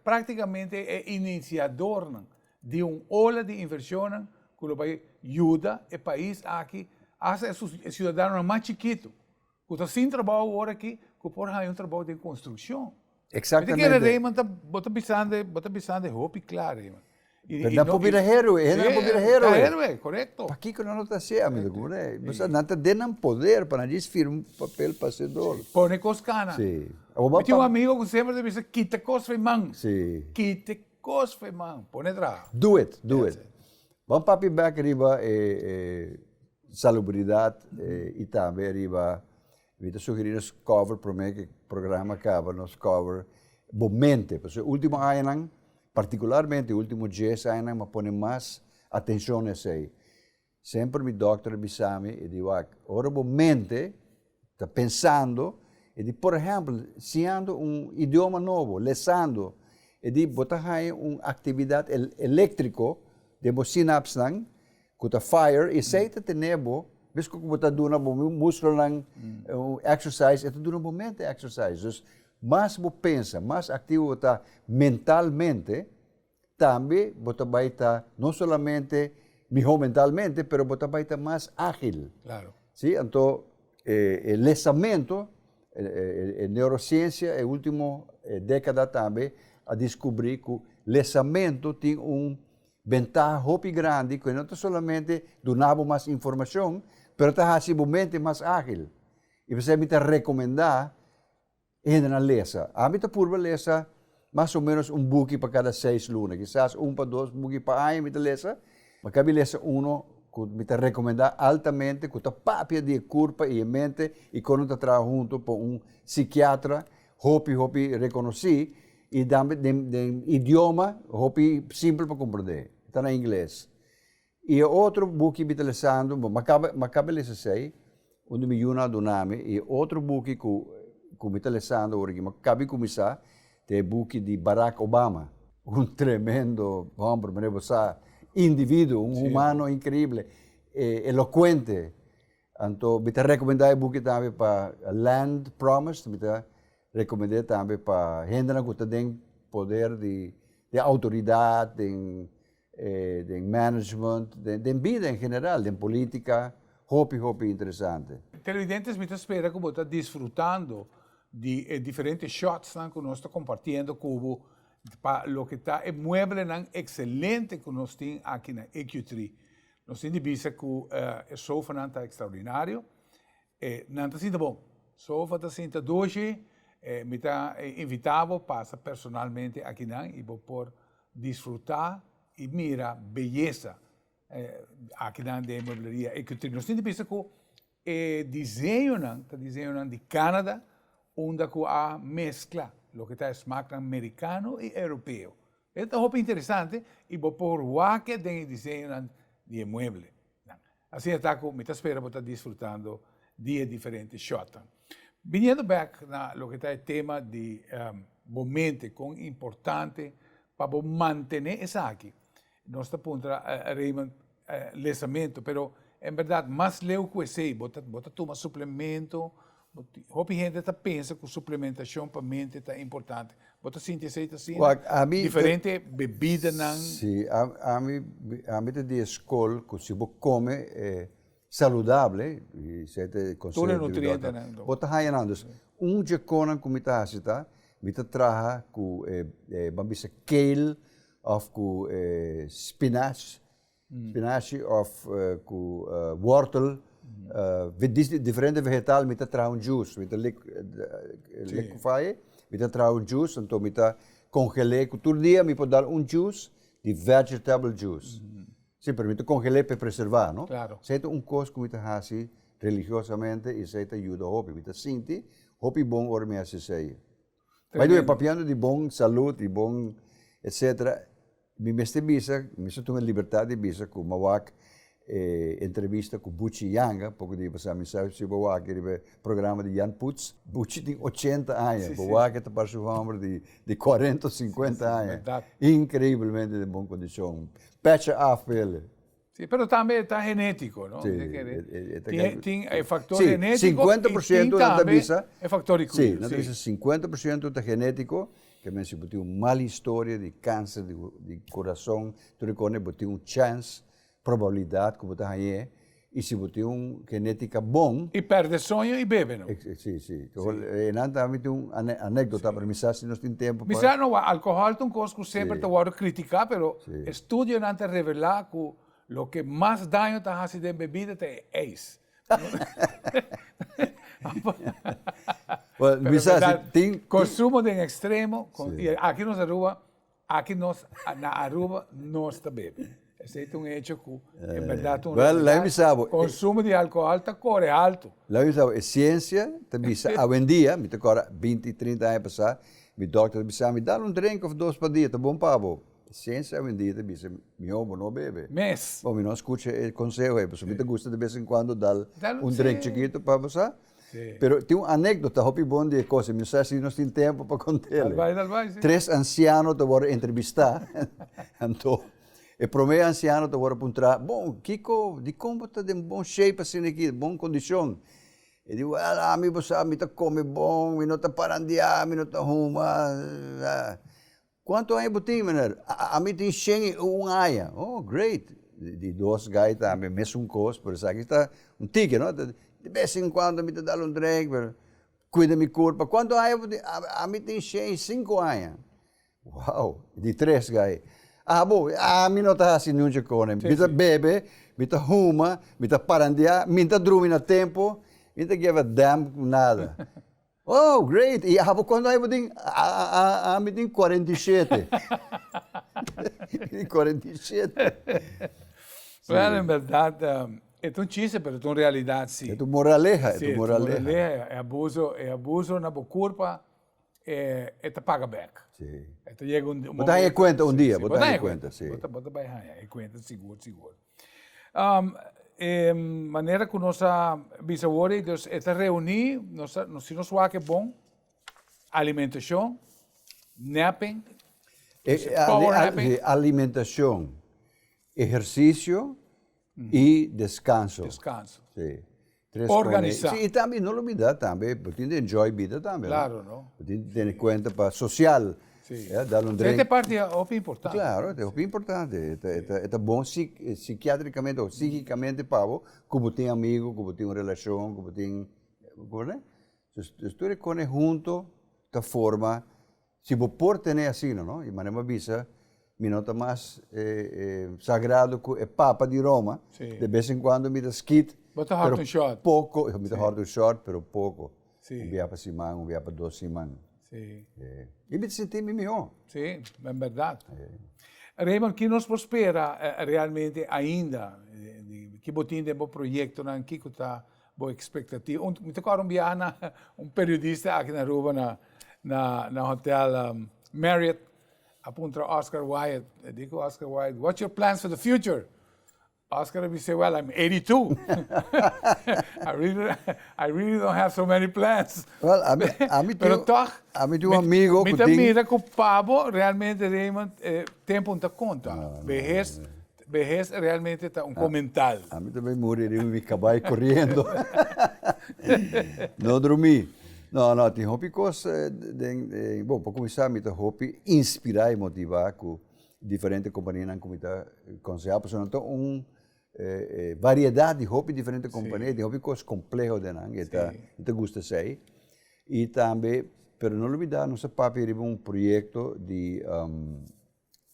práktikamente e inisiadornan di un ola di invershonnan ku lo bai yuda e pais aki, hasta e siudadanonan mas chikitu ku ta sin trabou ora aki ku por haña un trabou den konstrukshon. Bo ta kere Reyman bo ta bisande bo ta bisande hopi kla Reyman. Nan por bira héroe, e hendenan por bira héroe. Pakiko nan no ta así, amigo? Komo no e? Bisao, nan ta den nan poder pa nan dje firma un papel pa ser dor. Sí, pone kos kana. Sí. Mi tin un amigo ku semper ta bisa, kita kos for e man. Sí. Kita kos for e man, pone traha. Do it, do it. Ban papia bek riba e salubridad i tambe riba. Mi ta sugeri nos cover prome cu e programa caba nos cover bo mente pasobra e ultimo añanan particularmente e ultimo dies añanan mi a pone mas atencion na esey semper mi doctor a bisami e di wak ora bo mente ta pensando e di por ehempel siñando un idioma nobo lesando e di bo ta haña un actividad electrico den bo synapsnan Cu ta fire, esey ta tene bo, mesco cu bo ta duna bo muslonan exercise, e ta duna bo mente exercise. Dus, mas bo pensa, mas activo bo ta mentalmente, tambe bo ta bay ta no solamente miho mentalmente, pero bo ta bay ta mas agil. Claro. Si, anto e lesamento, e neurociencia e ultimo decada tambe a descubri cu lesamento tin un. Bentaha hopi grandi ku e no ta solamente duna bo mas informashon, pero ta hasi bo mente mas ágil. I p'esei mi ta rekomendá e hendenan lesa. Ami ta purba lesa mas o ménos un buki pa kada seis luna, kisas un pa dos buki pa aña mi ta lesa. Mi kabi lesa unu ku mi ta rekomendá altamente ku ta papia di e kurpa i e mente i kon nan ta traha huntu pa un sikiatra hopi hopi rekonosí. I tambe den den idioma hopi simpel pa komprendé, ta na ingles. I e otro buki mi ta lesando, bo mi kaba mi kaba lesa esei, unda mi yuna a duna mi, i e otro buki ku ku mi ta lesando ora aki, mi a kaba di kuminsá, ta e buki di Barack Obama, un tremendo hòmber, mané bo sa, individuo, un humano inkreible, e elokuente. Anto mi ta recomenda e buki tambe pa Land Promise, mi ta recomende tambe pa hendenan cu ta den poder di den autoridad, den den management, den bida en general, den politica, hopi hopi interesante. Televidentes mi ta spera cu bo ta disfrutando di e diferente shotsnan cu nos ta compartiendo cu bo pa loke ta e mueblenan excelente cu nos tin aki na EQ3. Nos tin di bisa cu e sofanan ta extraordinario. E nan ta sinta bon. Sofa ta sinta doce. E mi ta invita bo pasa personalmente akinan y bo por disfruta y mira beyesa akinan den Muebleria Ecutrip. Nos tin di bisa cu e diseñonan ta diseñonan di Canada unda cu a mezcla loke ta e smaknan mericano y europeo. E ta hopi interesante i bo por wak-e den e diseñonan di e mueblenan. Asina e ta ku mi ta spera bo ta disfrutando di e diferente shotnan. Biniendo bèk na loke ta e tema di bo mente, kon importante pa bo mantené esaki, nos ta puntra Raymond, Lesamento, pero en berdad mas leu cu esey, bo ta bo ta tuma suplemento, hopi hende ta pensa cu suplementacion pa mente ta importante, bo ta sinti esey ta asina? Wak, a mi te. Diferente bebidanan. Si, a a mi a mi ta di e scol cu si bo come saludable, y esey ta e conseho. Tur e nutrientenan di mi doctor, bo ta haya nan, dus un dje conan cu mi ta haci ta mi ta traha cu e e ban bisa kale Of cu spinach, spinachi of cu wortel, diferente vegetal mi ta traha un juice, mi ta liquify aye, mi ta traha un juice, anto mi ta congele cu tur dia mi por dal un juice di vegetable juice, si pero mi ta congele pa preserva no, esey ta un cos cu mi ta haci religiosamente y esey ta yuda hopi, mi ta sinti hopi bon ora mi haci esey. By the way papiando di bon salud y bon etcetera mi mester bisa mi mester tuma e libertad di bisa cu mi wak e entrevista cu Buchi Yanga poco di ahi pasa mi sa si bo wak riba e programa di Jan Poots Buchi tin ochenta aña bo wak e ta parse un homber di cuarenta o cincuenta aña increiblemente den bon condicion pecha af pa el'e. Sí, pero tambe ta genetico, no? Sí, tin e factor genetico y tin tambe e factor di cuid'e. Sí, nan ta bisa cincuenta por ciento ta genetico, ke men si bo tin un mal historia di cancer di corazon, tur e kosnan bo tin un chance, probabilidad ku bo ta hañ'e, y si bo tin un genetica bon. Y perde soño y bebe no. Sí, sí. E nan ta habi tin un anekdota, pero mi sa si nos tin tempo pa. Mi sa no, alcohol ta un kos ku semper ta wordo critica, pero. Studionan ta revelá ku loke mas daño ta hasi den bebida ta e eis. Pero Luisa, si bèrdad, tin, tin. konsumo den ekstremo, kon, i aki nos Aruba, aki nos, na Aruba nos ta bebe. Esei ta un hecho ku en bèrdad ta un Wel, lei mi sa bo, e. Konsumo di alkohòl ta kore altu. Lei mi sa bo, e siensia ta bisa awendia, mi ta kòrda binti, trinta aña pasá, mi dòkter ta bisa mi, dal un drenk òf dos pa dia, ta bon pa bo. Sense a wendia ta bisa mihó bo no bebe mes, bo mi no a skucha e konseho ei pasobra mi ta gusta de bes en kuando dal un drink chikitu pa sa, pero tin un anekdota hopi bon di e kos ei mi no sa si nos tin tempu pa kontel ei. Tres ansiano ta wòrdu entrebistá anto e promé ansiano ta wòrdu puntrá, bon kiko dikon bo ta den bon shape asina aki, bon kondishon? E di wèl ami bo sa mi ta kome bon, mi no ta parandiá, mi no ta huma, Cuanto aña bo tin meneer? Ami tin shen i un aña. Oh, great! Di dos guy tambe mesun cos, pero esaki ta un tigre, no? Ta, de bes en cuando mi ta dal un drink, pero cuida mi curpa. Cuanto aña bo tin? Ami tin shen i cinco aña. Wow! Di tres guy, Abo, ami no ta haci nunca cona. Mi ta bebe, mi ta huma, mi ta parandia, mi ta drumi na tempo, mi ta give a damn cu nada. Oh, great! I abo kondo ai bo tin? A, a, a, mi tin kuarenta i shete. Kuarenta i shete. Well, en berdad, e ta un chiste, pero e ta un realidad si. E ta un moraleha, e ta un moraleha. Si, e ta un moraleha. E abuso, e abuso na bo kurpa, e, e ta paga bek. Si. E ta yega un momento. Bo ta haña e kuenta un dia, bo ta haña e kuenta, si. Bo ta, bo ta bai haña e kuenta sigur, sigur. E manera ku nos a bisa wor ei, dus e ta reuni, si nos wak e bon, alimentashon, napping, power napping. Alimentashon, ehersisio i deskanso. Tres con e, Organisa. si, y tambe no lo bida tambe bo tin di enjoy bida tambe no, Claro, no. bo tin di tene cuenta pa social, Sí. ya, dal un drink. Ete parti a hopi importante. Claro, ete hopi importante, e ta, e ta, e ta bon sic, sikiatricamente o sichicamente pa bo cu bo tin amigo, cu bo tin un relacion, cu bo tin, comprende? Entonces, tur e con e hunto ta forma. Si bo por tene asina, no? I manera bo a bisa, mi no ta mas e, e sagrado ku e papa di Roma, Si. de bes en kuando mi ta skit, Bo ta hòrt un shòrt. pero poko, mi ta Si. hòrt un shòrt, pero poko, Si. un bia pa siman, un bia pa dos siman, Si. e. I mi ta sinti mi mihó. Si, en bèrdat. E. Raymond, ki nos por spera realmente ainda di, di, di, ki bo tin den bo proyektonan, kiko ta. Bo expectativa un mi ta kòrda un biaha na un periodista aki na Aruba na na na hotel Marriot a puntra Oscar Wilde a diki Oscar Wilde what's your plans for the future Oscar a bis'é well I'm eighty two I really I really don't have so many plans pero tòg mi ta mira ku pa bo realmente Raymond tempu no ta konta behes Behes realmente ta un comental. A mi tambe muri riba mi cabai coriendo. No drumi. No, no, tin hopi cos den, bon, pa cuminsa mi ta hopi inspira y motiva cu diferente companianan cu mi ta conseha pasobra nan ta un variedad di hopi diferente compania y tin hopi cos compleho den nan y e ta, y ta gusta esey. Y tambe, pero no olbida nos a papia riba un proyecto di.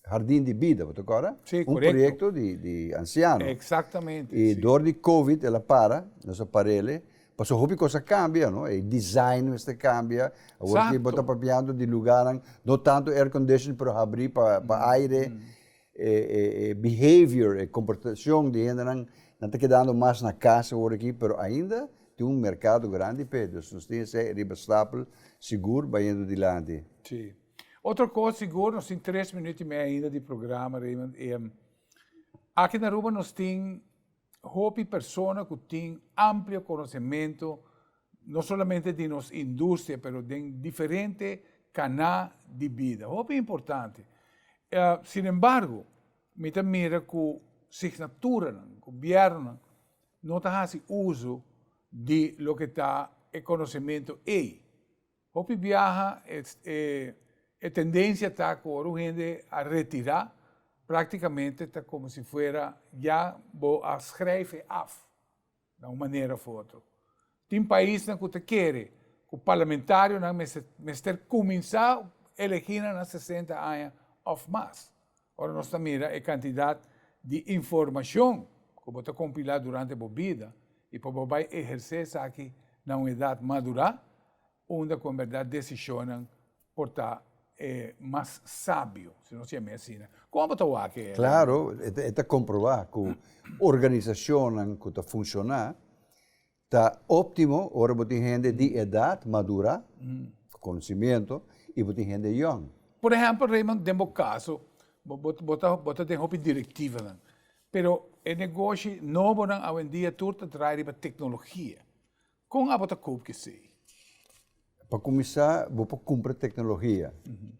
Hardin di Bida, bo ta corda? Sí, correcto. Un proyecto di, di anciano. Exactamente. Y sí. door di Covid el a para, nos a parele. Paso hopi cos a cambia, no? E design mester cambia. Awor ki bo ta papiando di lugarnan, no tanto air condition, pero habri pa, pa aire. E, e, e behavior, e comportacion di hendenan, nan ta kedando mas na cas awor aki, pero ainda tin un mercado grandi p'e. Dus nos tin esey riba stapel, sigur bayendo dilanti. Sí. Otro cos sigur, nos tin tres minuut y mei ainda di programa, Raymond, y aki na Aruba nos tin hopi persona cu tin amplio conocemento, no solamente di nos industria, pero den diferente cana di bida, hopi importante. Sin embargo, mi ta mira cu signaturanan, gobiernonan, no ta haci uzo di loke ta e conocemento ey. Hopi biaha e tendencia ta cu ora un hende a retira, practicamente ta como si fuera ya bo a schrijf e af, na un manera of otro. Tin paisnan cu ta kere cu parlamentarionan mester cuminsa elegi nan na sesenta aña of mas. Ora nos ta mira e kantidat di informashon ku bo ta kompilá durante bo bida i pa bo bai ehersé esaki na un edat madurá, unda ku en bèrdat desishonnan por ta e mas sabio, si nos yam'é asina. Kon bo ta wak e Klaro, e ta komprobá ku organisashonnan ku ta funshoná Ta optimo ora bo tin hende di edat madura, ku konosimiento, i bo tin hende yòn. Por ehèmpel, Raymond, den bo kaso, bo bo bo ta bo ta den hopi direktivanan, pero e negoshi nobonan awendia tur ta drai riba teknologia. Kon abo ta koop ki esei? Pa kuminsá bo por kumpra teknologia,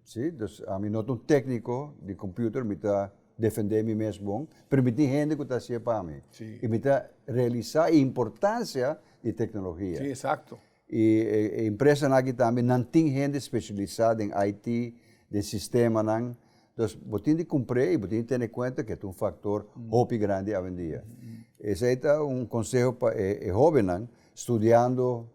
si. Dus ami no ta un tékniko di kompüter, mi ta defendé mi mes bon, pero mi tin hende ku ta hasié pa mi. I mi ta realisá e importansia di teknologia. Si, esakto. I e empresanan aki tambe, nan tin hende speshialisá den IT, den sistemanan. Dus bo tin di kumpré i bo tin di tene kuenta ku e ta un faktor hopi grandi awendia. Esei ta un konseho pa e hóbennan, studiando.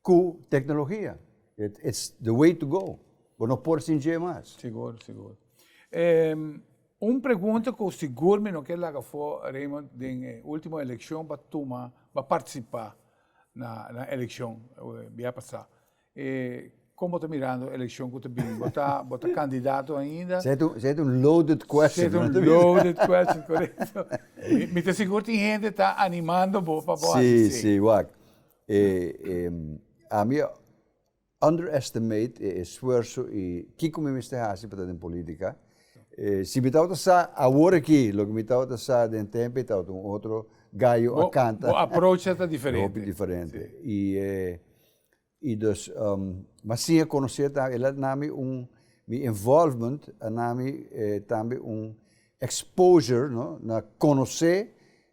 ku teknologia it's the way to go bo no por sin dje mas. Sigur, sigur. Em, un pregunta ku sigur mi no ke laga afó, Raymond, den e último elekshon ba tuma, ba partisipá na, na elekshon bia pasá. E kon bo ta mirando elekshon ku ta bini? Bo ta, bo ta kandidato ainda? Sa et un, sa et un loaded question. Sa et un loaded question, korekto. Mi, mi ta sigur tin hende ta animando bo pa bo hasi si. Si, si, wak. E ami a underestimate e esfuerso y kico mi mester haci pa ta den politica. Si mi tabata sa awor aki loke mi tabata sa den tempe tabata un otro gallo a canta. Bo approach ta diferente. Hopi diferente y dus mas sin a conoce tambe el a nami un mi involvement a nami tambe un exposure no na conoce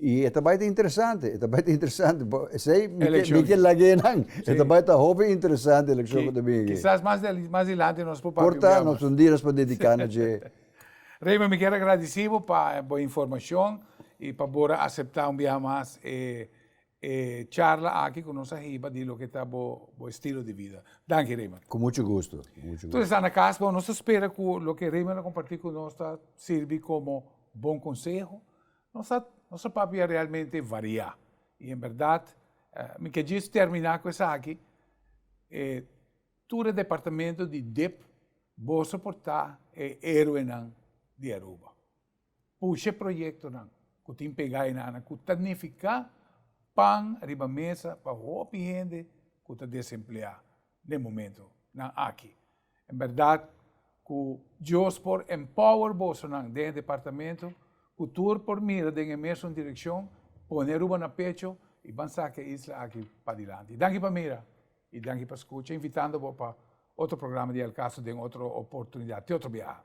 Y e ta bay ta interesante, e ta bay ta interesante, por esey mi ke lagué nan, e ta bay ta hopi interesante eleccion cu ta bini aki. Kisas mas di ali, mas di lanti nos por papia un bia mas. Por ta, nos un di nos por dedica na dje. Raymond, mi kier agradeci bo pa bo informacion y pa bor a acepta un bia mas e e charla aki cu nos a hiba di loke ta bo bo estilo di vida. Danki Raymond. Cu mucho gusto, cu mucho gusto. Tur esnan na cas bon, nos ta spera cu loke Raymond a comparti cu nos ta sirbi como bon conseho. Nos a nos a papia realmente variá y en berdad mi ke djis termina cu esaki e tur e departamento di dip boso por ta e heroenan di Aruba pusha e proyectonan cu tin pega enana cu ta nifica pan riba mesa pa hopi hende cu ta desempleá den momentunan aki. En bèrdat ku Dios por empower bosonan den e departamento ku tur por mira den e mesun direkshon, pone Aruba na pecho i ban saka e isla aki padilanti. Danki pa mira i danki pa skucha, invitando bo pa otro programa di El Caso den otro oportunidat, te otro biaha.